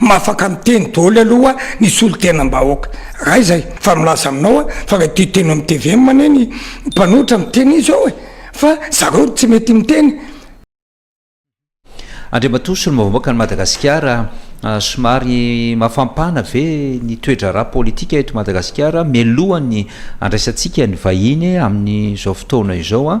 Mahafaka miteny doly aloha ny solontenam-bahoaka. Raha izay, fa milaza aminao aho fa raha ity teny amin'ny tvm anie ny mpanohitra miteny izy eo e! fa zareo no tsy mety miteny. Andriamatoa Solombavambahoaka an'i Madagasikara, somary mafampana ve ny toe-draharaha politika eto Madagasikara mialohan'ny andraisantsika ny vahiny amin'izao fotoana izao?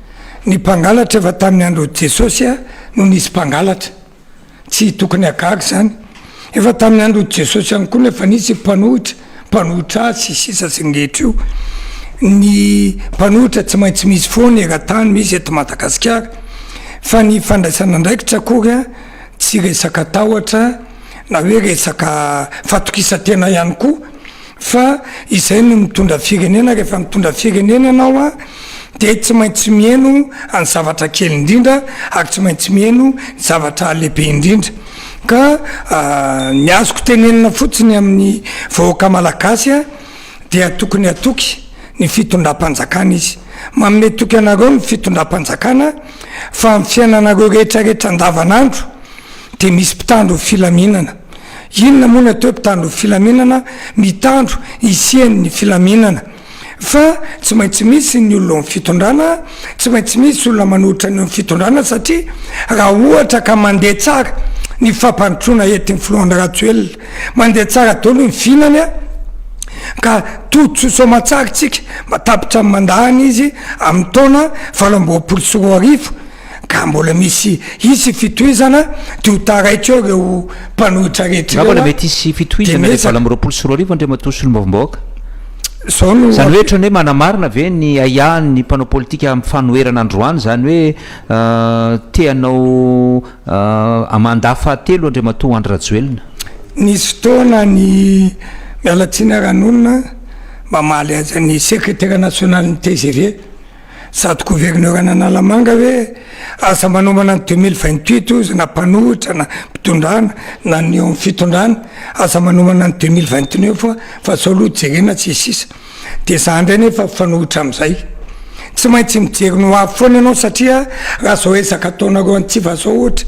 Ny mpangalatra efa tamin'ny andron'i Jesosy no nisy mpangalatra. Tsy tokony hagaga izany. Efa tamin'ny andron'i Jesosy ihany koa no efa nisy mpanohitra, mpanohitra azy, sy sisa sy ny rehetra io. Ny mpanohitra tsy maintsy misy foana eran-tany, misy eto Madagasikara. Fa ny fandraisana andraikitra akory tsy resaka tahotra na hoe resaka fatokisan-tena ihany koa. Fa izay no mitondra firenena, rehefa mitondra firenena ianao an, dia tsy maintsy miheno ny zavatra kely indrindra ary tsy maintsy miheno ny zavatra lehibe indrindra. Ka ny azoko tenenina fotsiny amin'ny vahoaka malagasy an, dia tokony hatoky ny fitondram-panjakana izy. Manome toky anareo ny fitondram-panjakana fa amin'ny fiainanareo rehetra rehetra andavanandro dia misy mpitandro ny filaminana. Inona moa ny atao hoe mpitandron'ny filaminana? Mitandro hisian'ny filaminana. Fa tsy maintsy misy ny olona eo amin'ny fitondrana, tsy maintsy misy olona manolotra ny eo amin'ny fitondrana satria raha ohatra ka mandeha tsara ny fampandrosoana entin'ny filoha Andry Rajoelina, mandeha tsara daholo ny vinany ka tody soa soamantsara isika mba tapitra ny mandahany izy amin'ny taona valo amby roapolo sy roa arivo, ka mbola misy hisy fitohizana de ho taraiky eo reo mpanohitra rehetra reo a, de miezaka. Angamba mety hisy fitohizana le valo amby roapolo sy roa arivo Andriamatoa Solombavambahoaka? Zao no. Zany hoe otrany hoe manamarina ve ny ahiahan ny mpanao politika am fanoherana androany zany hoe te hanao mandat fahatelo Andriamatoa Andry Rajoelina? Nisy fotoana ny Mialatsiny ara nonina mamaly azy any Secretaire national ny tgv Sady gouverneur an'Analamanga ve? Asa manomana ny deux mille vingt huit ozy na mpanohitra na mpitondrana na ny eo amin'ny fitondrana asa manomana ny deux mille vingt neuf fa sao aloha jerena tsy sisa dia za indray nefa mpifanohitra amin'izay tsy maintsy mijery ny hoavy foana ianao satria raha zao ezaka ataonareo antsy fa zao ohatra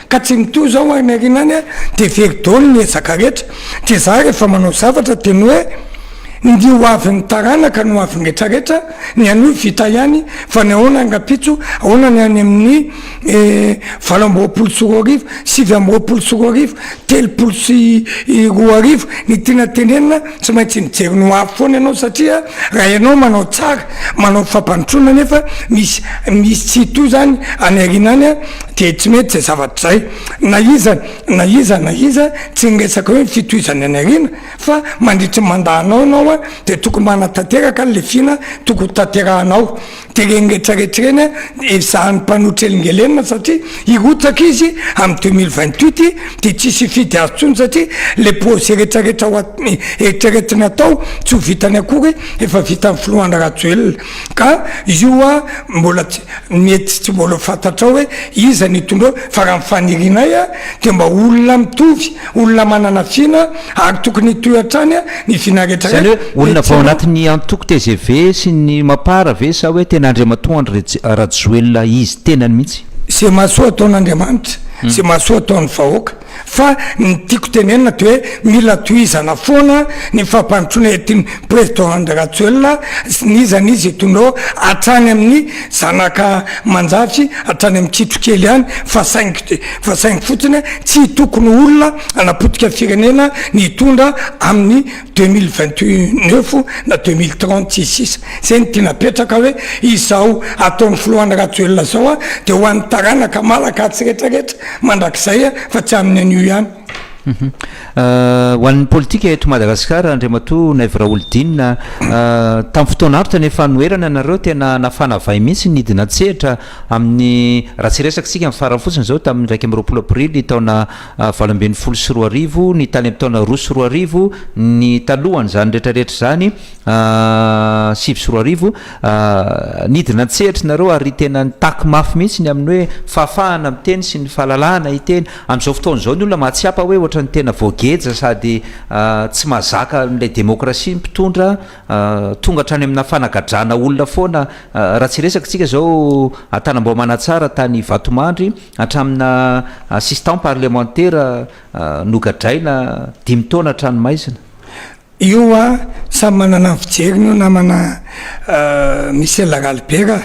Ka tsy mitohy izao ho any aoriana any dia very daholo ny ezaka rehetra. Dia za rehefa manao zavatra dia ny hoe ny ho avin'ny taranaka no ho avin'ny retraretra, ny anio vita ihany fa ny ahoana ny rampitso, ahoana ny any amin'ny valo amby roapolo sy roa arivo, sivy amby roapolo sy roa arivo, telopolo sy roa arivo, ny tiana tenenina, Tsy maintsy mijery ny ho avy foana ianao satria raha ianao manao tsara, manao fampandrosoana nefa misy misy tsy hitohy izany any aoriana any dia tsy mety izay zavatra izay. Na iza na iza na iza, tsy ny resaka hoe ny fitohizany any aoriana fa mandritry ny mandat-nao ianao dia tokony manatanteraka an'ilay vina tokony ho tanterahanao. Tereny rehetra rehetra ireny a, ezahan'ny mpanohitra elingelenina satria hirotsaka izy amin'ny deux mille vingt huit dia tsisy hifidy azy intsony satria ilay projet rehetra rehetra ho at eritreretina atao tsy ho vitany akory efa vitan'ny filohana Rajoelina ka io a mbola tsy mety tsy mbola ho fantatrao hoe iza ny hitondra fa raha ny fanirianay a dia mba olona mitovy Olona manana tsina ary tokony hitohy hatrany ny tsina rehetra rehetra. Izany hoe olona vao ao anatin'ny antoko tgv sy ny mapar ve sa hoe tena Andriamatoa Andry Rajoelina izy tenany mihitsy? Ze mahasoa ataon'Andriamanitra, ze mahasoa ataon'ny vahoaka. Fa ny tiako tenenina de hoe mila tohizana foana ny fampandrosoana entin'i President Andry Rajoelina sy ny izany izy hitondrô hatrany amin'ny Zanaka manjafy hatrany amin'ny kitro kely ihany fa saingy fa saingy fotsiny tsy tokony olona hanapotika firenena ny hitondra amin'ny deux mille vingt neuf na deux mille trente sy sisa zay no tiana apetraka hoe izao ataon'ny filohan'ny rajoelina zao a de ho an'ny taranaka malakasy retraretra mandrakizay a fa tsy amin'ny anio ihany. Ho an'ny politika eto Madagasikara, Andriamatoa Naivo Raholdina, tamin'ny fotoana avotra ny fanoherana anareo, tena nafana vay mihitsy ny hidina an-tsehatra amin'ny, raha tsy hiresaka isika amin'ny farany fotsiny izao, tamin'ny iraika amby roapolo aprily taona valo ambin'ny folo sy roa arivo, ny tany amin'ny taona roa sy roa arivo, ny talohan'izany rehetrarehetra izany, sivy sy roa arivo. Nidina an-tsehatra ianareo ary tena nitaky mafy mihitsy ny amin'ny hoe fahafahana miteny sy ny fahalalahana hiteny. Amin'izao fotoana izao ny olona mahatsiapa hoe ohatran'ny tena voageja sady tsy mahazaka an'ilay demokrasia ny mpitondra, tonga hatrany amina fanagadrana olona foana, raha tsy resaka isika izao an-tanambao Manatsara tany Vatomandry, hatramina assistant parlemantera nogadraina dimy taona an-tranomaizina. Io a! Samy manana ny fijeriny io namana Michel Ralibert a!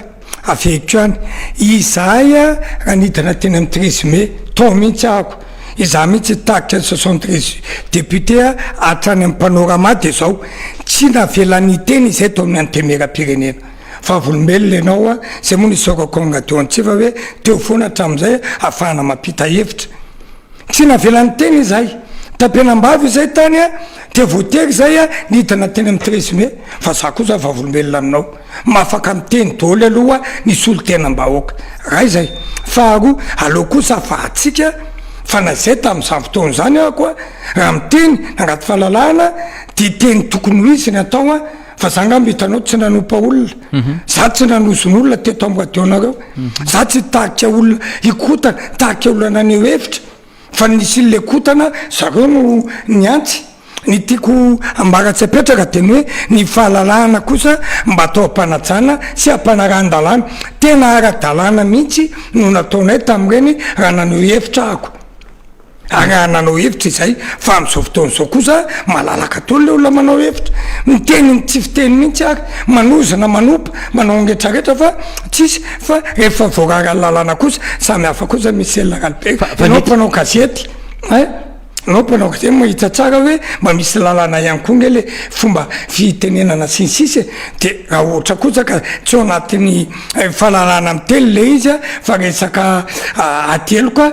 Avehiko ihany. Izahay a! Raha nidina teny amin'ny treize mai, tao mihitsy ahako. Izaho mihitsy nitarika ny soixante treize députés hatrany amin'ny Panorama dia izao. Tsy navelany hiteny izahay tao amin'ny Antenimierampirenena. Vavolombelona ianao a! Izay moa no isaorako an'i Radio Antsiva hoe teo foana hatramin'izay ahafahana mampita hevitra. Tsy navelany teny izay. Tapenambavy izay tany a! Dia voatery izay a nidina teny amin'ny treize mai. Fa za kosa vavolombelona aminao. Mahafaka miteny doly aloha ny solontenam-bahoaka. Ray izay. Faharoa, aleo kosa afahantsika fa na izay tamin'izany fotoana izany ako a, raha miteny na anaty fahalalahana dia teny tokony ho izy ny atao a! fa za ngamba hitanao tsy nanompa olona mhm. za tsy nanozon'olona teto amboadeonareo mhm. za tsy tarika olona hikotana tarika olana ny hevitra fa nisy le kotana zareo no ny antsy ny tiako ambara tsy apetraka de ny hoe ny fahalalahana kosa mba atao am-panajana sy ampanarahan-dalàna tena ara-dalàna mihitsy no nataonay tamin'ireny raha naneho hevitra ahako Ary nanao hevitra izahay fa amin'izao fotoana izao kosa malalaka daholo ilay olona manao hevitra. Miteny ny tsy fiteny mihitsy ary manozona, manompa, manao ny retraretra fa tsisy fa rehefa voarara ny lalàna kosa samy hafa kosa Michel Ralibert. Ianao mpanao gazety ein, ianao mpanao gazety mahita tsara hoe mba misy lalàna ihany koa ange ilay fomba fitenenana sy ny sisa e. Dia raha ohatra kosa ka tsy ao anatin'ny fahalalahana miteny ilay izy fa resaka ateloka,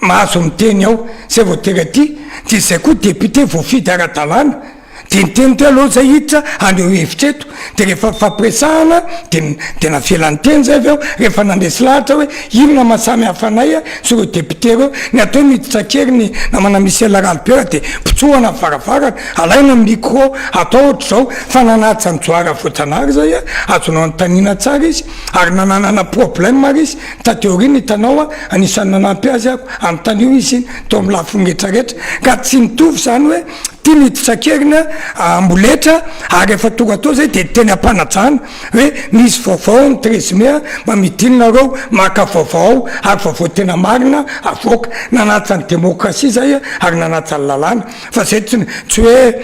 Mahazo miteny ao zay vao tena tia de izay koa député voafidy ara-dalàna de niteny teo aloha zay hiditra haneho hevitra eto de rehefa nifampiresahana de de navela niteny zay avy eo rehefa nandresy lahatra hoe inona maha samy hafa anay sy ireo député ireo ny atao miditra kely ny namana Michel Ralibera de pitsohana ny varavarana alaina ny micro atao ohatr'izao fa nanaja an'i Johara Voajanahary zay azonao anontaniana tsara izy ary nananana problème ary izy Taty aoriana hitanao a, anisan'ny nanampy azy aho amin'ny tany io izy tao amin'ny lafiny rehetra rehetra ka tsy mitovy izany hoe tiany hiditra an-keriny amboletra ary efa tonga tao izay dia teny am-panajana hoe misy vaovao ao amin'ny treize mai mba midina nareo maka vaovao ao ary vaovao tena marina avoaka. Nanaja ny demokrasia izay ary nanaja ny lalàna. Fa zay tsy tsy hoe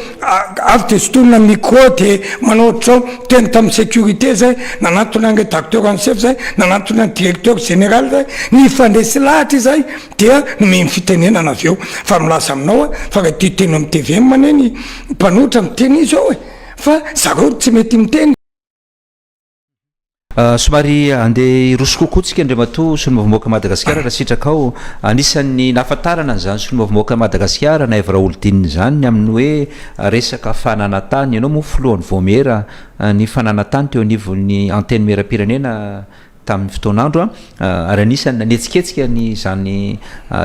avy de sotomina ny micro de manao ohatr'izao, teny tamin'ny sécurité zay, nanantona ny rédacteur en chef zay, nanantona ny directeur général zay, nifandresy lahatra izay dia nomeny ny fitenenana avy eo. Fa milaza aminao aho fa raha te hiteny amin'ny tvm anie ny mpanohitra miteny izao e! fa zareo no tsy mety miteny. Somary handeha hiroso kokoa tsika Andriamatoa Solombavambahoaka Madagascar raha sitrakao. Anisan'ny nahafantarana an'izany Solombavambahoaka Madagascar na Evra Olodinina izany ny amin'ny hoe resaka fananantany. Ianao moa Filohan'ny Vaomiera ny fananantany teo anivon'ny Antenimierampirenena tamin'ny fotoan'andro. ary anisan'ny nanetsiketsika ny izany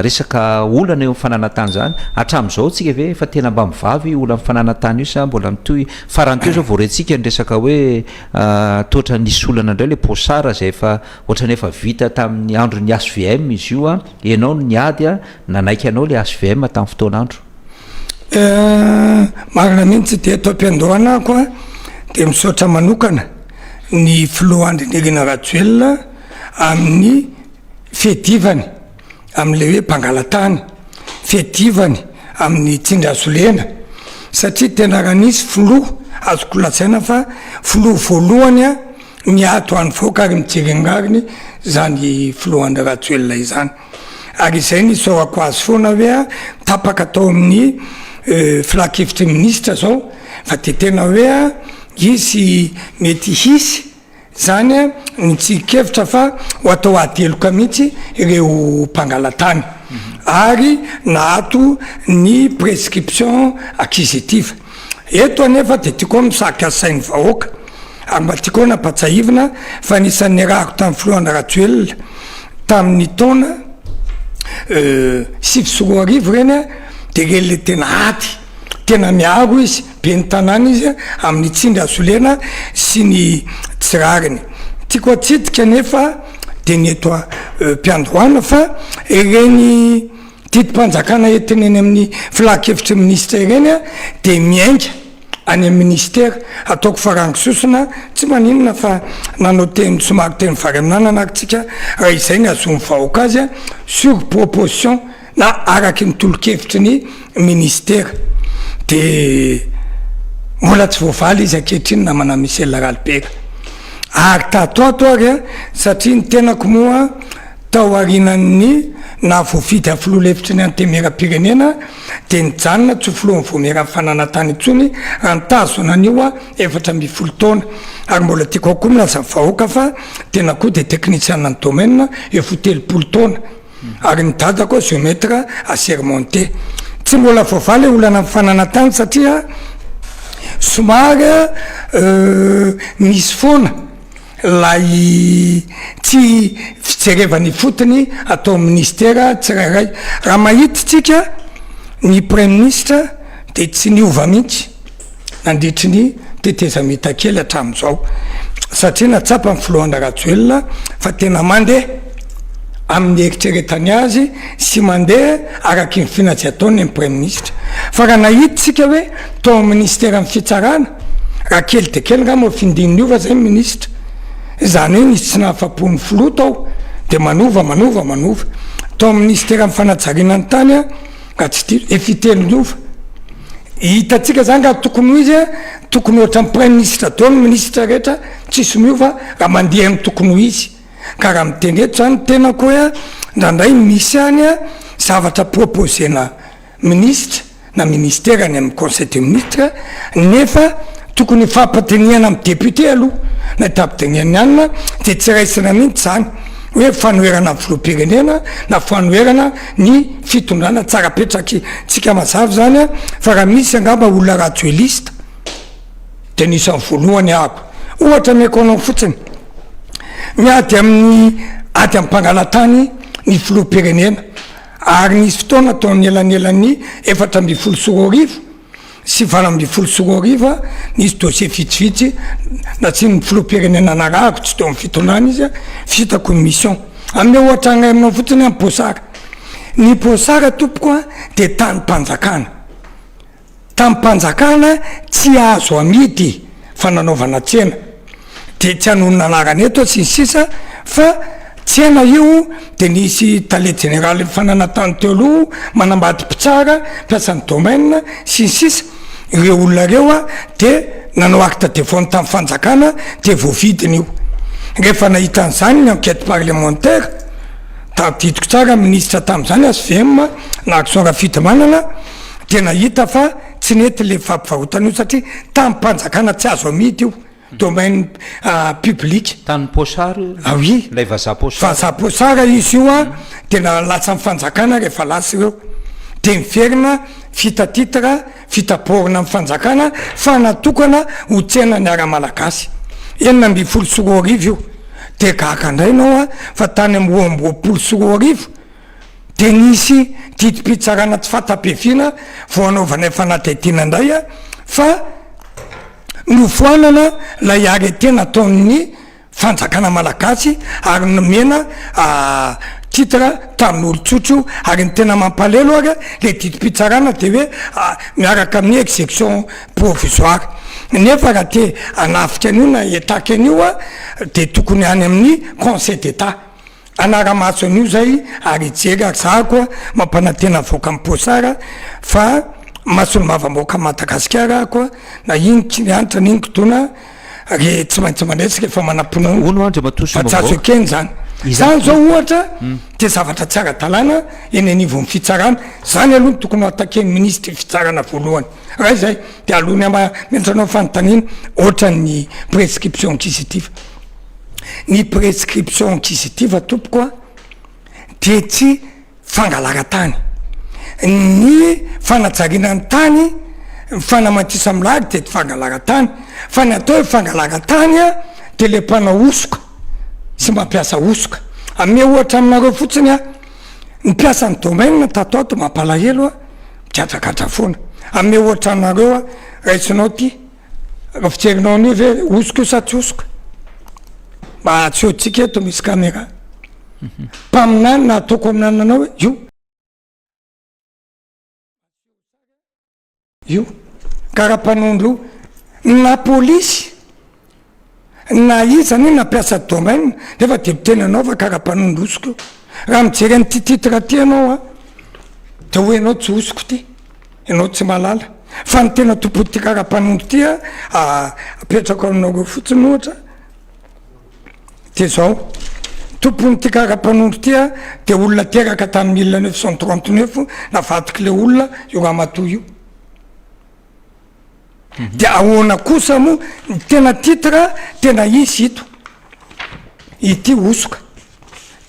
resaka olana eo amin'ny fananantany izany, hatramin'izao tsika ve efa tena mba mivavy io olan'ny fananantany io sa mbola mitohy, farany teo izao vao retsika ny resaka hoe tohatra nisy olana indray ilay Pochard izay efa ohatrany efa vita tamin'ny andron'ny HVM izy io, ianao no niady nanaiky anao ilay HVM tamin'ny fotoan'andro. Marina mihitsy dia eto am-piandohanako a dia misaotra manokana ny filoha Andry Nirina Rajoelina amin'ny fiadivany amle hoe mpangalatany, fiadivany amin'ny tsindry hazo lena satria tena raha nisy filoha azoko lazaina fa filoha voalohany a miady ho an'ny vahoaka ary mijery ny rariny zany filoha Andry Rajoelina izany. Ary izay no isaorako azy foana hoe tapaka tao amin'ny filankevitry ny minisitra izao fa dia tena hoe hisy mety hisy izany ny tsirin-kevitra fa ho atao ady heloka mihitsy ireo mpangalatany ary na ato ny prescription acquisitive. Eto anefa dia tiako misarika sain'ny vahoaka ary mba tiako nampatsahivina fa anisan'ny niarahako tamin'ny filoha Andry Rajoelina tamin'ny taona sivy sy roa arivo ireny dia ireny ilay tena ady tena miaro izy, ben'ny tanàna izy amin'ny tsindry hazolena sy ny tsy rariny. Tiako hatsidika anefa dia ny eto am-piandohana fa ireny Didim-panjakana entina eny amin'ny Filan-kevitry ny Minisitra ireny dia miainga any amin'ny Minisitera. Ataoko farango sosona, tsy maninona fa nanao teny somary teny variananana ary tsika raha izay ny hahazoan'ny vahoaka azy, sur proposition na araky ny tolo-kevitry ny Minisitera. Dia mbola tsy voavaly izy ankehitriny namana Michel Ralibera. Ary tato ato ary satria ny tenako moa, Taorian'ny naha voafidy amin'ny filoha lefitry ny Antenimierampirenena dia nijanona tsy ho filohan'ny Vaomieran'ny Fananantany intsony raha nitazona an'io efatra ambin'ny folo taona. Ary mbola tiako ao koa milaza vahoaka fa tena koa dia teknisiana ny domaine eo fo telopolo taona. Ary ny dadako géomètre assermenté. Tsy mbola voavaha ilay olana amin'ny fananantany satria somary misy foana. Ilay tsy fijerevana ifotony atao minisitera tsirairay. Raha mahita tsika ny praiminisitra dia tsy niova mihitsy nandritry ny tetezamita kely hatramin'izao. Satria nahatsapa ny filohana Rajoelina fa tena mandeha amin'ny eritreretany azy sy mandeha araky ny finazzy ataony ny praiminisitra. Fa raha nahita tsika hoe. tao amin'ny ministeran'ny fitsarana, raha kely dia kely angamba findiny niova izay ny minisitra, izany hoe nisy tsy nahafapo ny filoha tao dia manova, manova, manova. Tao amin'ny ministeran'ny fanajariana ny tany raha tsy diso dia fitelo niova. Hitantsika izany raha tokony ho izy, tokony ohatran'ny praiminisitra daholo ny minisitra rehetra, tsisy miova raha mandeha ny tokony ho izy. Ka raha miteny eto izany ny tenako hoe indraindray misy any zavatra proposer-na. Minisitra na Ministera any amin'ny Conseil des Ministres nefa tokony hifampidinihana amin'ny Députés aloha na hitapidinihana ihany dia tsy raisina mihintsy izany hoe fanoherana ny Filoham-pirenena na fanoherana ny fitondrana tsara petraky tsika mazava izany fa raha misy angamba olona rajoelista dia anisan'ny voalohany ahako ohatra ameko anao fotsiny miady amin'ny ady amin'ny mpangalatany ny Filoham-pirenena Ary nisy fotoana tao anelanelan'ny efatra ambin'ny folo sy roa arivo sy valo ambin'ny folo sy roa arivo an, nisy dossier vitsivitsy natsian'ny filoham-pirenena narahako, tsy teo amin'ny fitondrana izy an, vita commission. Hanome ohatra iray aminao fotsiny aho, Bosara. Ny Bosara, tompoko an, dia tanim-panjakana. Tamim-panjakana tsy azo amidy fa nanaovana tsena dia tsy hanonona anarana eto aho sy ny sisa fa tsena io dia nisy tale jeneralin'ny fananantany teo aloha manambady mpitsara mpiasan'ny domaine sy ny sisa ireo olona ireo dia nanao acte de vente tamin'ny fanjakana dia voavidiny io rehefa nahita an'izany ny enquete parlementaire tadidiko tsara minisitra tamin'izany HVM na Rakotoson Rafidimanana dia nahita fa tsy nety ilay fampivahotana io satria tamim-panjakana tsy azo amidy io, domaine public. Tanin'ny Pochard io? Ah oui! Ilay vazaha Pochard. Vazaha Pochard izy io an, dia na latsan'ny fanjakana rehefa lasa ireo, dia niverina vita titre, vita borne amin'ny fanjakana fa natokana ho tsenan'ny ara-malagasy. Enina ambin'ny folo sy roa arivo io. Dia gaga indray ianao an, fa tany amin'ny roa amby roapolo sy roa arivo, dia nisy didim-pitsarana tsy fahatapefiana vao hanaovanay fanadihadiana indray fa nofoanana ilay arrêté nataon'ny fanjakana malagasy ary nomena titre tanin'olon-tsotra io ary ny tena mampalelo ary ilay didim-pitsarana dia hoe miaraka amin'ny execution provisoire nefa raha te hanafika an'io na hietaka an'io dia tokony any amin'ny conseil d'état Hanara-maso an'io izay ary hijery ary za koa mampanantena avoaka am poasara fa masony mavamboaka Madagasikara aho koa na iny kilianitra na iny kidona re tsy maintsy mandresy rehefa manapona Hono Andriamatoa Sombavao Bajajo Ken zany Izany zao ohatra dia zavatra tsy ara-dalàna eny anivon'ny fitsarana Izany aloha no tokony ho attaquer ny ministre ny fitsarana voalohany raha izay dia aloha ny ama-menatra anao fanontaniana ohatran'ny prescription acquisitive. ny prescription acquisitive tompoko a dia tsy fangalaran-tany, ny fanajariana ny tany, fanamatisan'ny milahatra dia tsy fangalaran-tany fa ny atao hoe fangalaran-tany a dia ilay mpanao hosoka sy mampiasa hosoka, hanome ohatra aminareo fotsiny aho, ny mpiasan'ny domaine tato ato mampalahelo a, migadragadra foana, hanome ohatra anareo aho, raisinao ity. Raha fijerinao an'io ve hosoka io sa tsy hosoka? Mba asehontsika eto misy caméra. Mpaminany na ataoko amin'anona anao hoe io. Io. Karapanondro io. Na polisy. na iza anie na mpiasa domaine nefa de miteny anao fa karaha mpanondro hosoka eo, raha mijery an'ity titre ty ianao a de hoy ianao tsy hosoka ity, ianao tsy mahalala fa ny tena tompon'ity karaha mpanondro ty a apetrako aminareo fotsiny ohatra de zao, tompon'ity karaha mpanondro ty a de olona teraka tamin'ny mille neuf cent trente neuf navadik'le olona io ramatoa io. dia ahoana kosa moa ny tena titre tena izy ito ity hosoka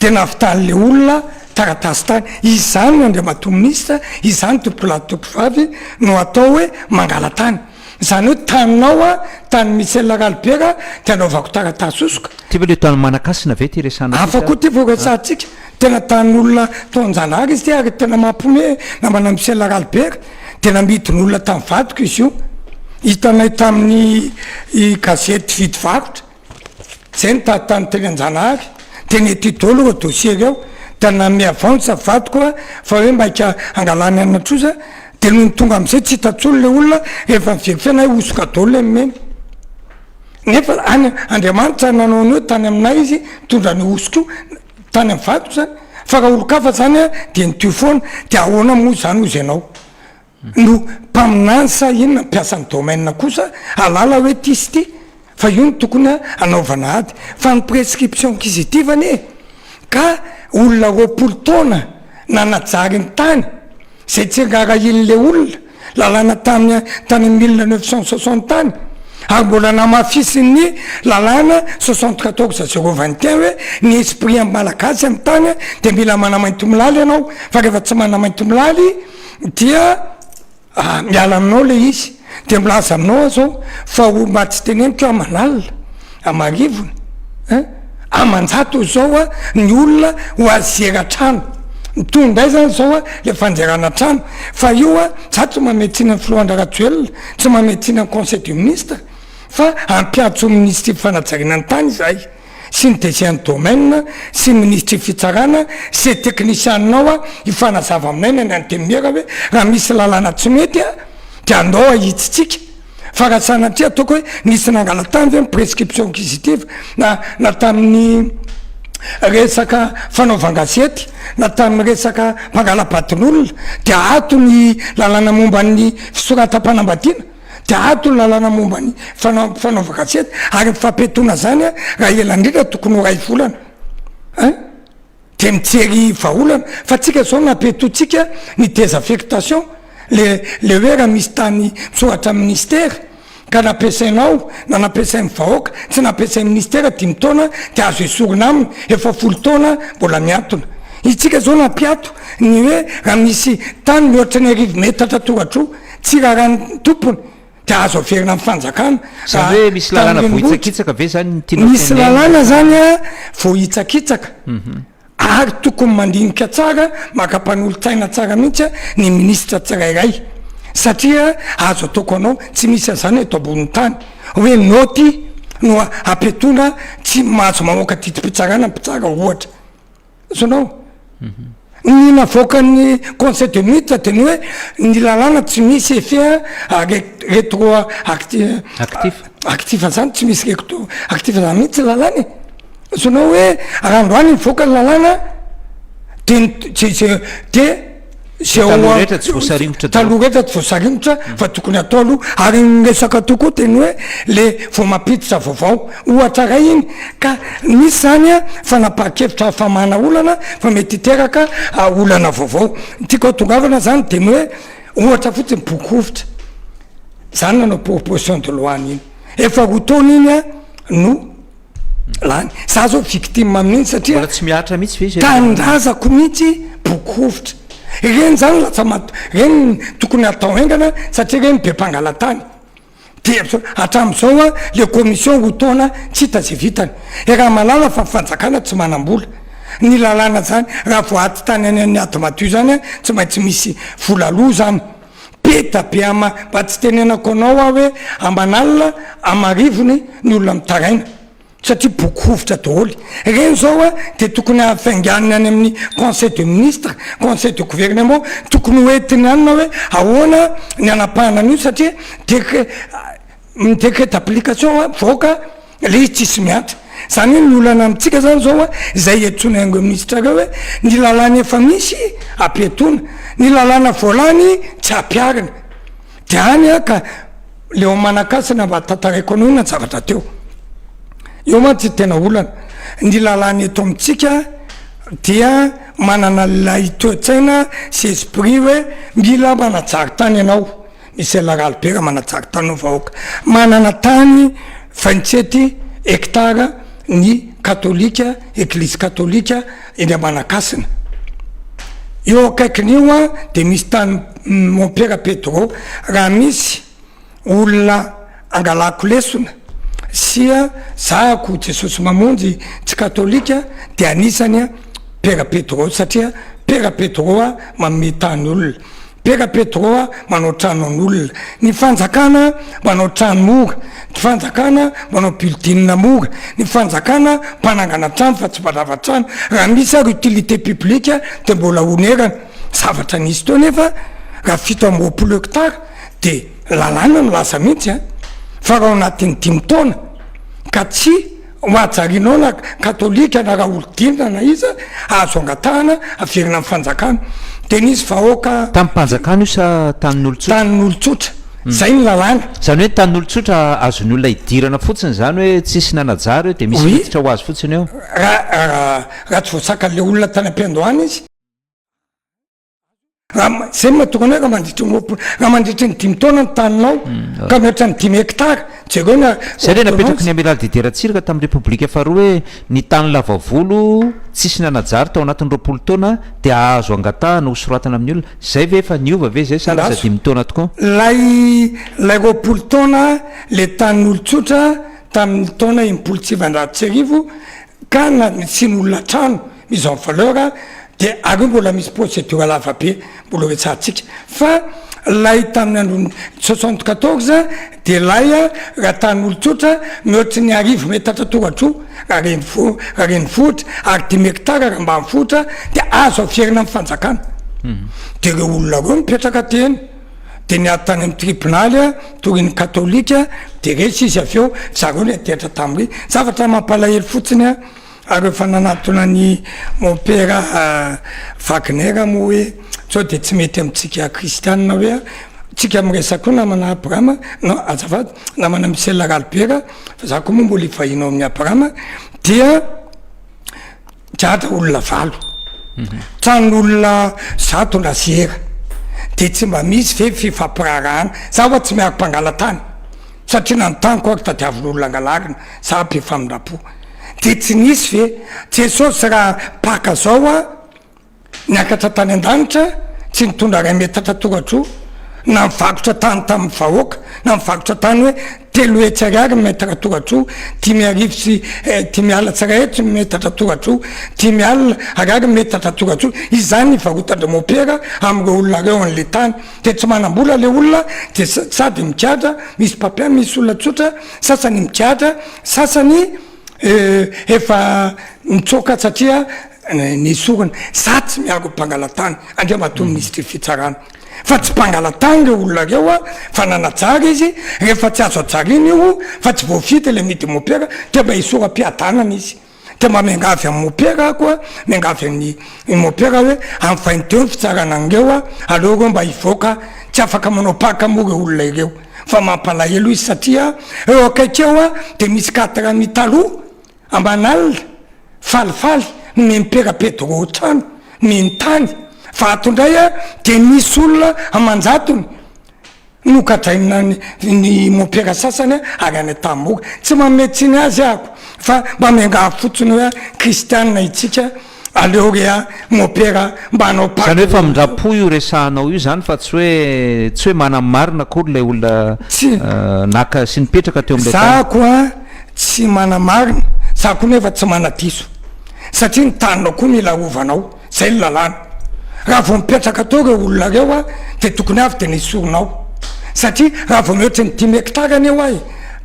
dia navitan'le olona taratasy tany izany ny andriamatoa minisitra izany tompolahy tompovavy no atao hoe mangalatany zany hoe taninao a tany Michel Ralibera dia anaovako taratasy hosoka Ty ve le tany Manakasina ve ty resahana aty sa? Hafa koa ty voresahantsika. Tena tanin'olona tao Anjanahary izy ity ary tena mampiomehy e! Namana Michel Ralibert dia namidin'olona tamin'ny vadiko izy io. Hitanay tamin'ny gazety Vidy Varotra izay nitady tany teny Anjanahary. Dia nety daholo ireo dossiers ireo. Dia nanome avance vadiko aho fa hoe maika hangalany an'i Trosa. Dia nony tonga amin'izay tsy hita intsony ilay olona, rehefa ni-verifie anay hosoka daholo ilay nomeny. Nefa any Andriamanitra nanao ny hoe tany aminay izy nitondra an'io hosoka io. tany am vato zany fa raha olon-kafa zany a de ny tuyau foana de ahoana moa zany hozy ianao no mpaminany sa inona mpiasa ny domaine kosa ahalala hoe ty sy ty fa io no tokony a anaovana ady fa ny prescription k'izy ity va anie ka olona roapolo taona nanajary ny tany zay tsy angarahin'le olona lalàna tany tany amin'ny mille neuf cent soixante tany, ary mbola namafisin'ny lalàna soixante quatorze zero vingt et un hoe ny esprit amin'ny Malagasy amin'ny tany dia mila manamaintimolaly ianao, fa rehefa tsy manamaintimolaly dia miala aminao ilay izy, dia milaza aminao aho izao fa ho mba tsy teneniko aho manalina, Amarivony eh! Aman-jato izao a ny olona ho azy zera trano. Mitohy indray izany izao a le fanjerana trano. Fa io a, za tsy manome tsiny an'i Filohandrarajoelina, tsy manome tsiny an'i Conseil de Ministre, fa hampiantso ho Minisitry Fanajariana ny tany izahay, sy ny DG an'ny Domaine, sy ny Minisitry Fitsarana, sy le teknisianina ao a, hifanazava aminay ny any Antenimiera hoe raha misy lalàna tsy mety a, dia andao ahitsitsika. Fa raha sanatria ataoko hoe nisy nangalatany ve ny prescription acquisitive na na tamin'ny resaka fanaovan-gazety na tamin'ny resaka mpangala-badin'olona dia ato ny lalàna momba ny fisoratam-panambadiana dia ato ny lalàna momba ny fanao- fanaovan-gazety ary ny fampiatoana izany raha ela indrindra tokony ho iray volana ein. de mijery vahaolana fa tsika zao napetontsika ny desafectation le le hoe raha misy tany mitsoratra am ministera ka nampiasainao na nampiasainy vahoaka tsy nampiasainy ministera dimy taona de azo esorina aminy efa folo taona mbola miantona itsika zao nampiato ny hoe raha misy tany mihoatra ny arivo metatra toradroa tsy rarany tompony Dia azo averina amin'ny fanjakana. Zany hoe misy lalàna voahitsakitsaka ve zany ny tianao tenenina? Misy lalàna zany a, voahitsakitsaka. Ary tokony mandinika tsara, maka mpanolo-tsaina tsara mihitsy a, ny ministra tsirairay. Satria azo atao ko anao, tsy misy an'zany eto ambonin'ny tany. Hoe naoty no apetrona, tsy mahazo mamoaka didim-pitsarana mpitsara ohatra. Azonao? Ny navoakan'ny Conseil de Ministre dia ny hoe ny lalàna tsy misy effet rétroactif, Actif. actif izany tsy misy rétroactif izany mihitsy ny lalàna e. Azonao hoe raha androany nivoaka ny lalàna dia ny CGE dia. Zay taloha rehetra tsy voasaringotra daholo. Taloha rehetra tsy voasaringotra fa tokony atao aloha. Ary ny resaka atao koa dia ny hoe le vao mampiditra vaovao. Ohatra iray iny. Ka misy izany fanapahan-kevitra hafamana olana fa mety hiteraka olana vaovao. Ny tiako hatongavana izany dia ny hoe ohatra fotsiny boky rovitra. Izany nanao proposition de loi an'iny. Efa roa taona iny no. lany za zao victime mihitsy satria mbola tsy mihatra mihitsy ve izy tanindrazako mihitsy boky hovitra ireny zany lasa mat ireny tokony atao haingana satria ireny be mpangalatany dia hatramin'izao a le commission roa taona tsy hita ze vitany e raha malala fa fanjakana tsy manam-bola ny lalàna zany raha vao ady tany any an'ny ady madio zany a tsy maintsy misy vola aloa zany Peta be ama mba tsy tenenako anao aho hoe aman'alina amarivony ny olona mitaraina satria boky hovitra daholo ireny zao a dia tokony hafainganiny any amin'ny conseil de ministre conseil de gouvernement tokony hoentiny any na hoe ahoana ny hanapahana an'io satria decret ny décret d'application a mivoaka le izy tsisy mihantra, zany hoe ny olana amintsika zany zao a zay iantsoany ango ministra reo hoe ny lalàna efa misy ampihatoana, ny lalàna voalany tsy ampiharina, de any a ka le ao Manankasina mba tantaraiko anao ny zavatra teo, eo mantsy ny tena olana, ny lalàna eto amintsika dia manana lay toetsaina sy esprit hoe mila manajary tany ianao, Michel Ralibera manatsara tany ho vahoaka manana tany vingt-sept hectares ny katolika, eglizy katolika eny Manakasina. Eo akaikiny io dia misy tany mompera Pedro, raha misy olona angalako lesona sia zahako Jesosy Mamonjy tsy katolika dia anisany pera Pedro satria pera Pedro manome tany olona. Peka Petro a manao trano an'olona, ny fanjakana manao trano moa, ny fanjakana manao building moa, ny fanjakana mpanangana trano fa tsy mpandrava trano, raha misy ary utilité publique dia mbola honerana, zavatra nisy teo nefa raha fito amby roapolo hectare dia lalàna no lasa mihitsy a! fa raha ao anatin'ny dimy taona ka tsy Ohajarinao na katolika na raholidinina na iza azo angatahana averina amin'ny fanjakana. Dia nisy vahoaka. Tamin'ny mpanjakana io sa tanin'olon-tsotra? Tanin'olon-tsotra. Izay ny lalàna. Izany hoe tanin'olon-tsotra azon'ny olona idirana fotsiny izany hoe tsisy nanajary eo dia misy miditra ho azy fotsiny eo? Raha raha tsy voasakan'ilay olona tany am-piandohana izy. Raha izay no mahatokana hoe raha mandritry ny roapolo, raha mandritry ny dimy taona ny taninao ka mihoatra ny dimy hektara, jereo ny ordonnance. Izay ilay napetraky ny Amiraly Didier Ratsiraka tamin'ny Repoblika faharoa hoe ny tany lava volo tsisy nanajary tao anatin'ny roapolo taona dia azo angatahana ho soratana amin'ny olona. Izay ve efa niova ve izay sa lasa dimy taona tokoa? Ilay ilay roapolo taona ilay tanin'olon-tsotra tamin'ny taona enimpolo sy sivinjato sy arivo ka nasian'olona trano. mise en valeur dia aleo mbola misy procedure lava be mbola ho hetsahantsika fa lay tamin'ny andron'ny soixante quatorze dia lay raha tanin'olon-tsotra ny ohatry ny arivo metatra toratr'o raha renivo- raha renivohitra ary dimy hectara raha ambanivohitra dia azo averina amin'ny fanjakana dia ireo olona ireo mipetraka teny dia niady tany amin'ny tribonaly a torin'ny katolika dia resy izy avy eo zareo ny adihatra tamin'ireny zavatra mampalahelo fotsiny a Ary rehefa nanatona an'i Mompera Wagner moa hoe sao dia tsy mety amintsika kristianina hoe tsika miresaka koa namana Abrahama non azafady namana Michel Ralibera fa za koa moa mbola hivahiny ao amin'i Abrahama dia gadra olona valo tranon'olona zato laziera dia tsy mba misy ve fifampiraharahana za oa tsy miaro mpangalatany satria na ny taniko ary tadiavin'olona angalarina za be famindrampo de tsy nisy ve Jesosy raha paka zao a niakatra tany andanitra tsy nitondra ray metatra toratro na mivakotra tany taminy vahoaka na mivakotra tany hoe telo hetsy ariary ny metatra toratro dimy arivo sy dimy alina tsy ray hetsy ny metatra toratro dimy alina ariary ny metatra toratro izany ny varotandry mopera amreo olona reo anle tany de tsy manambola le olona de sady migadra misy papier misy olona tsotra Sasany migadra, sasany efa nitsoaka satria ny sorona. Za tsy miaro ny mpangalatany, Andriamatoa Minisitry ny Fitsarana, fa tsy mpangalatany ireo olona ireo an, fa nanajary izy, rehefa tsy azo hajarina io, fa tsy voafidy ilay midi-mopera, dia mba hisora-piadanana izy. Dia mba miangavy an'i Mopera aho koa, miangavy an'i Mopera hoe ampitainy teo ny fitsarana an'ireo a! aleo ireo mba hivoaka, tsy afaka manao paka moa ireo olona ireo fa mampalahelo izy satria eo akaiky eo a! dia misy quatre amis taloha aman'alina falifaly nomen'i Mpera Pedro trano, nomeny tany, fa ato indray a! dia misy olona aman-jatony, Nogadraina ny mopera sasany avy any Tamboga. Tsy manome tsiny azy aho fa mba miangavy fotsiny hoe kristianina itsika aleo re a mopera mba hanao Paka. Izany hoe famindram-po io resahanao io izany fa tsy hoe tsy hoe manana ny marina akory ilay olona naka sy nipetraka teo amin'ilay tany. Za koa tsy manana marina, za koa nefa tsy manadiso satria ny taninao koa mila arovanao. Zay ny lalàna. Raha vao mipetraka teo reo olona reo a de tokony avy de nesorina ao. Satria raha vao mihoatry ny dimy hectare anie ho'a e,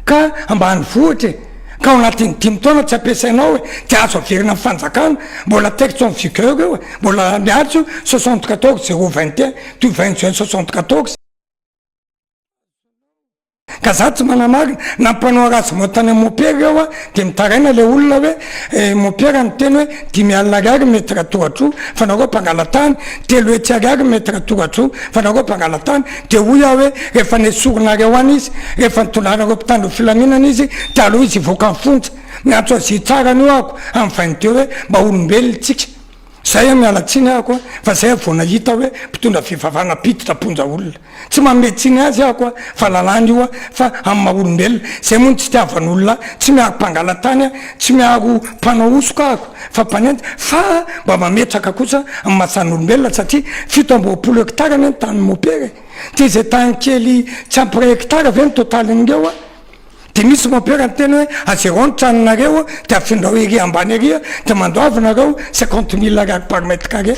ka ambanivohitra e, ka ao anatin'ny dimy taona tsy ampiasaina ao e, de azo averina amin'ny fanjakana, mbola texte en vigueur io e, mbola miaritra io soixante quatorze zéro vingt et un du vingt juin soixante quatorze. Ka za tsy manamarina na mpanao ratsy vao tany am mopera eo a de mitaraina le olona hoe eh mopera niteny hoe dimy alina ariary metre tohatro fa nareo mpangalatany telo hetsy ariary metre tohatro fa nareo mpangalatany de hoy aho hoe refa nesorinareo any izy refa nitondranareo mpitandro filaminana izy de aleo izy hivoaka am fonja miantso azy hitsara anio ahako am vain'teo hoe mba olombelona tsika Zay a miala tsiny ahako a fa zay vao nahita hoe mpitondra fivavahana mpiditra ponja olona. Tsy manome tsiny azy ahako a fa lalàna io a fa amin'ny maha olombelona. Zay moa no tsy itiavany olona a. Tsy miaro mpangalatany a, tsy miaro mpanao hosoka ahako fa mpanenjika fa mba mametraka kosa amin'ny maha zan'olombelona satria fito amby roapolo hectare anie ny tanin'i Mopera e. Dia izay tany kely tsy ampy ray hectare ve no totaliny ireo a? Dia misy mompera niteny hoe, ajerao ny tranonareo dia afindrao ery ambany ery dia mandoava nareo cinquante mille ariary par mètre carré.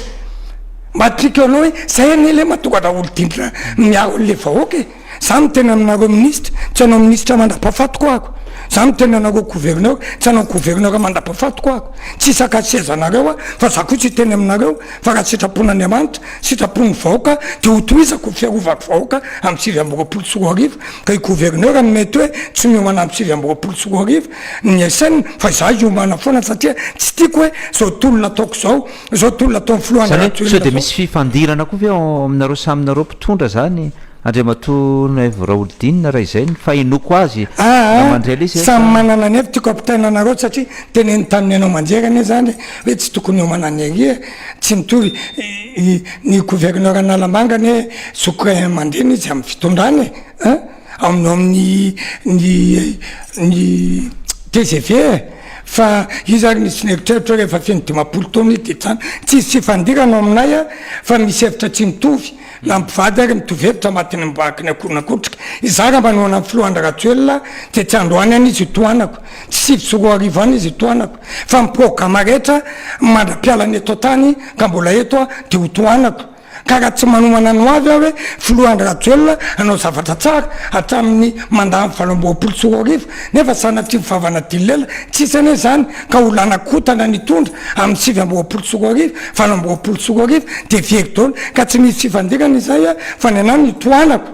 Mahatriaka eo anao hoe, zay anie lema tonga da olon-dindrina miaro an'le vahoaka e! Za miteny aminareo minisitra, tsy hanao minisitra mandrapahafatiko ako. Za miteny anareo gouverneur, tsy hanao gouverneur mandrapahafatiko ako. Tsy hisaka sezanareo aho fa za kosa hiteny aminareo, Fa raha sitrapon'Andriamanitra, sitrapon'ny vahoaka, dia hotohizako ny fiarovako vahoaka amin'ny sivy amby roapolo sy roa arivo, ka i gouverneur no mety hoe tsy miomana amin'ny sivy amby roapolo sy roa arivo ny SN, fa izaho hiomana foana satria tsy tiako hoe izao tolona ataoko izao, izao tolona ataon'ny filoha Andry Rajoelina izao. Sao dia misy fifandirana koa ve ao aminareo samy nareo mpitondra izany? Andriamatoa Noivo Raholdina, raha izay ny fahenoako azy, raha mandre ilay izy eto a. Samy manana ny heviny, tiako ampitaina anareo satria teneniny tamin'ny haino aman-jery anie izany hoe tsy tokony hiomana ny ery e! Tsy mitovy ny gouverneur Analamanga anie zoky ray aman-dreny izy amin'ny fitondrana e! An! Aminao amin'ny ny ny tgv e! Fa izy ary nisy nieritreritra hoe rehefa feno dimampolo taona izy dia tsy any. Tsy hisy fifandirana ao aminay an! Fa misy hevitra tsy mitovy. Na mpivady ary mitovy hevitra matin'ny mibahaky ny akoho na kotrika. Izaho raha manohana ny filoha Andry Rajoelina dia tsy androany any izy itohanako, tsy sivy sy roa arivo any izy itohanako, fa ny programa rehetra mandra-piala ny eto an-tany ka mbola eto aho dia ho tohanako. Ka raha tsy manomana ny ho avy aho hoe filoha Andry Rajoelina hanao zavatra tsara hatramin'ny mandat-ny valo amby roapolo sy roa arivo nefa sanatria ho vavana dililela, tsisy anie izany, ka ho lana kotana nitondra amin'ny sivy amby roapolo sy roa arivo, valo amby roapolo sy roa arivo dia very daholo ka tsy misy fifandirana izay a! fa ny anah ny tohanako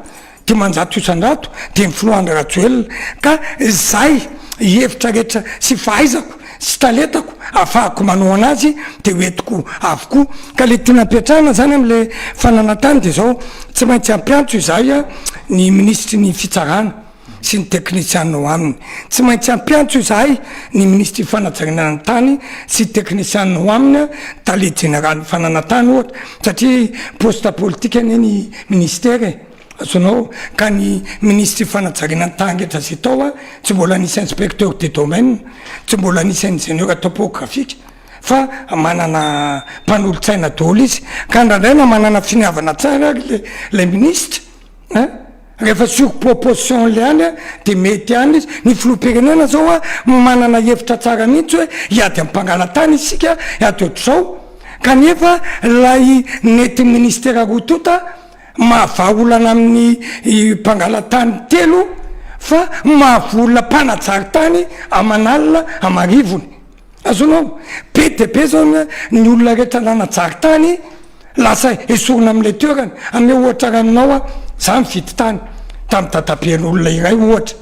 dimanjato isandrato dia ny filoha Andry Rajoelina ka izay hevitra rehetra sy fahaizako sy talentako afahako manohana azy dia ho entiko avokoa ka le tiana ampiatrahana zany amle fananantany dia zao tsy maintsy ampiantso izahay a! ny minisitry ny fitsarana. sy ny teknisiana ao aminy. Tsy maintsy hampiantso izahay ny minisitry ny fanajariana ny tany sy teknisiana ao aminy, tale jeneralin'ny fananantany ohatra, satria poste politika anie ny minisitera e! azonao, ka ny minisitry ny fanajariana ny tany rehetra izay tao an, tsy mbola nisy inspecteur de domaine, tsy mbola nisy ingénieur topographique, fa manana mpanolotsaina daholo izy, ka ndraindray na manana finiavana tsara ary ilay minisitra an, Rehefa sur proposition le any de mety ihany izy. Ny filoham-pirenena zao manana hevitra tsara mihitsy hoe hiady amin'ny mpangalatany isika hiady ohatr'izao kanefa ilay nety ministera roa tonta mahavaha olana amin'ny mpangalatany telo fa mahavoa olona mpanajary tany aman'alina amarivony. Azonao? Be dia be zao ny olona rehetra nanajaly tany lasa esorina amin'ilay toerana. Ameo ohatra iray aminao aho, za nividy tany tamin'ny dadaben'olona iray ohatra,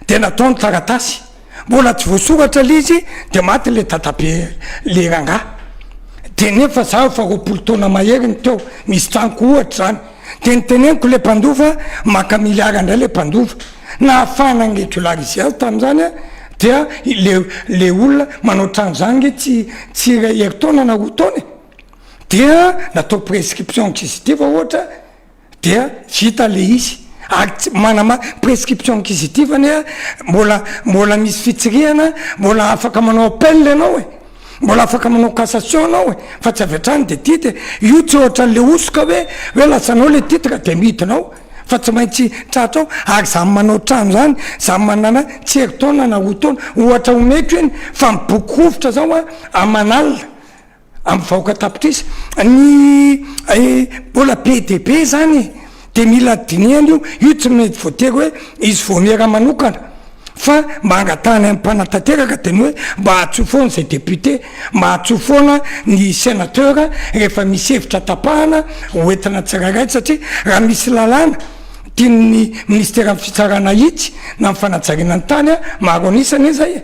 dia natao ny taratasy, mbola tsy voasoratra ilay izy dia maty ilay dadabe ilay rangahy, dia nefa za efa roapolo taona mahery no teo, misy tranoko ohatra zany. dia niteneniko le mpandova maka milliard ndray le mpandova nahafahana nregulariser tamin'izany a dia le le olona manao trano zany nge tsy tsy iray herintaona na roa taona e dia natao prescription kisitiva ohatra dia vita le izy ary tsy manama prescription kisitiva anie mbola mbola misy fitsirihana mbola afaka manao appel ianao e Mbola afaka manao cassation anao e, fa tsy avy hatrany de titre e, io tsy ohatra an'le hosoka hoe, hoe lasanao le titre de midinao, fa tsy maintsy tratrao, ary za manao trano zany, za manana tsy herintaona na roa taona, ohatra omeko iny, fa miboky rovitra zao an, aman'alina, amin'ny vahoaka tapitrisa, ny mbola be de be zany e. dia mila dinihana io, io tsy mety voatery hoe izy vao miera manokana fa mba hangatahany amin'ny mpanatanteraka dia ny hoe mba ahatsoy foana izay député, mba ahatsoy foana ny sénateur rehefa misy hevitra tapahana ho entina tsirairay satria raha misy lalàna tian'ny ministeran'ny fitsarana ahitsy na ny fanajariana ny tany maro an'isa anie izay e!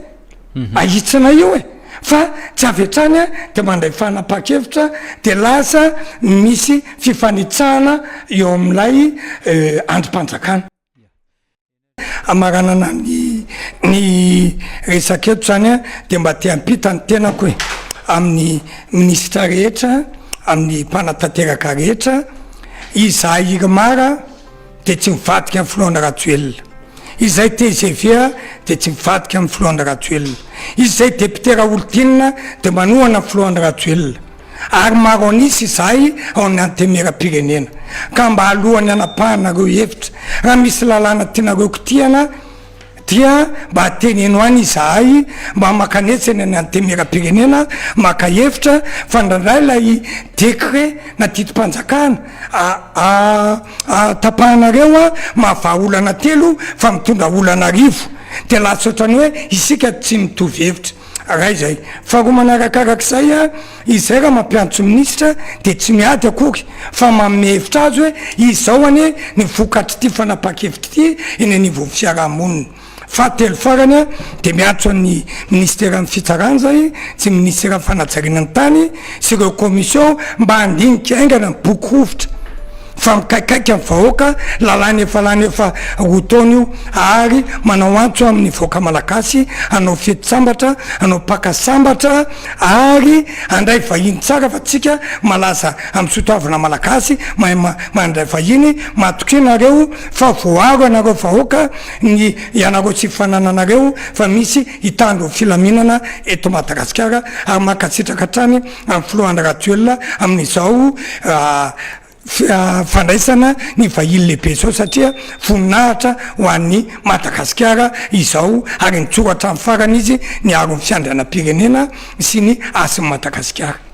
ahitsina io e! fa tsy avy hatrany a dia mandray fanapahan-kevitra dia lasa misy fifanitsahana eo amin'ilay andrim-panjakana. Hamaranana ny ny resaka eto izany a dia mba te hampita ny tenako e! amin'ny minisitra rehetra, amin'ny mpanatanteraka rehetra, izahay Irmar a, dia tsy mivadika amin'ny filoha Andry Rajoelina, izay tgv dia tsy mivadika amin'ny filoha Andry Rajoelina, izay député Raholdina dia manohana ny filoha Andry Rajoelina, ary maro an'isa izahay ao amin'ny Antenimieram-pirenena, ka mba alohan'ny hanapahanareo hevitra, raha misy lalàna tianareo kitihana, dia mba teneno any izahay mba mankanetsy any antenimieram-pirenena maka hevitra fa ndraindray ilay décret na didim-panjakana aahatapahanareo an mahavaha olana telo fa mitondra olana arivo dia lasa ohatran'ny hoe isika tsy mitovy hevitra. Iray izay. Faharoa manarakarak'izay, izay raha mampiantso minisitra dia tsy miady akory fa manome hevitra azy hoe izao anie ny vokatr'ity fanapahan-kevitra ity eny anivon'ny fiaraha-monina. Fahatelo farany dia miantso an'ny minisiteran'ny fitsarana izay, tsy ny minisiteran'ny fanajariana ny tany, sy ireo commission mba handinika haingana ny boky rovitra. fa mikaikaika ny vahoaka, lalàna efa lany efa roa taona io, ary manao antso amin'ny vahoaka malagasy hanao fety sambatra, hanao paka sambatra ary handray vahiny tsara fa tsika malaza amin'ny sotoavina malagasy mahay mandray vahiny, matokia nareo fa voaaro ianareo vahoaka ny ianareo sy fanananareo fa misy hitandro filaminana eto Madagasikara ary mankasitraka hatrany. amin'ny filoha Andry Rajoelina amin'izao fandraisana ny vahiny lehibe izao satria voninahitra ho an'i Madagasikara izao ary nijoro hatramin'ny farany izy niaro ny fiandrianam-pirenena sy ny hasin'i Madagasikara.